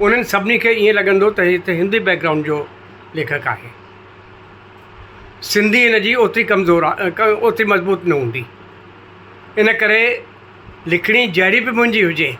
انهن سڀني کي ائين لڳندو ته هي ته هندي بيڪ گرائونڊ جو ليکڪ آهي. سنڌي هن جي اوتري ڪمزور اوتري مضبوط نه هوندي. ان ڪري لکڻي جهڙي به منهنجي هجي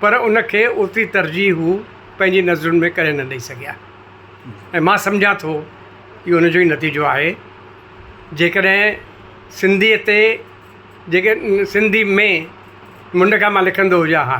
پر ان کي اوتري ترجيح هو پنهنجي نظرن ۾ ڪڏهن نه ڏئي سگهيا ۽ مان سمجهان ٿو اهو ان جو ئي نتيجو آهي. جيڪڏهن سنڌيء تي جيڪڏهن سنڌي ۾ منڍ کان مان لکندو هجان ها.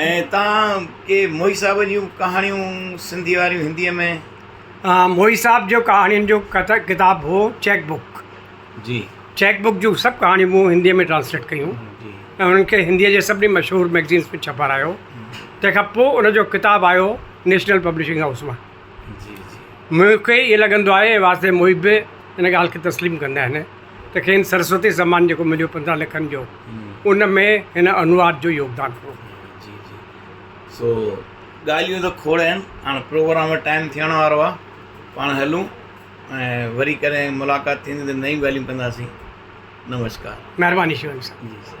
۽ تان ڪي موهي صاحب جون ڪهاڻيون سنڌي واريون هنديء ۾. موهي صاحب جو ڪهاڻين جو ڪتاب هو چيڪ بڪ جي چيڪ بڪ جون سڀ ڪهاڻيون مون هنديء ۾ ٽرانسليٽ ڪيون جي ۽ انهن کي هنديء جي سڀني مشهور مئگزينس ۾ ڇپارايو تنهن کان پوء ان جو ڪتاب آيو نيشنل پبلشنگ هائوس مان جي جي مون کي ائين لڳندو آهي واسديو موهي به ان ڳالهه کي تسليم ڪندا آهن ته کين سرسوتي سمان جيڪو مليو پندرهن لکن جو ان ۾ هن انواد جو يوگدان هو. جي جي سو ڳالهيون ته کوڙ آهن هاڻ پروگرام جو ٽائيم ٿيڻ وارو آهي پاڻ هلون ۽ وري ڪڏهن ملاقات ٿيندي ته نيون ڳالهيون ڪنداسين نمشڪار مهرباني شيوائي صاحب جي سر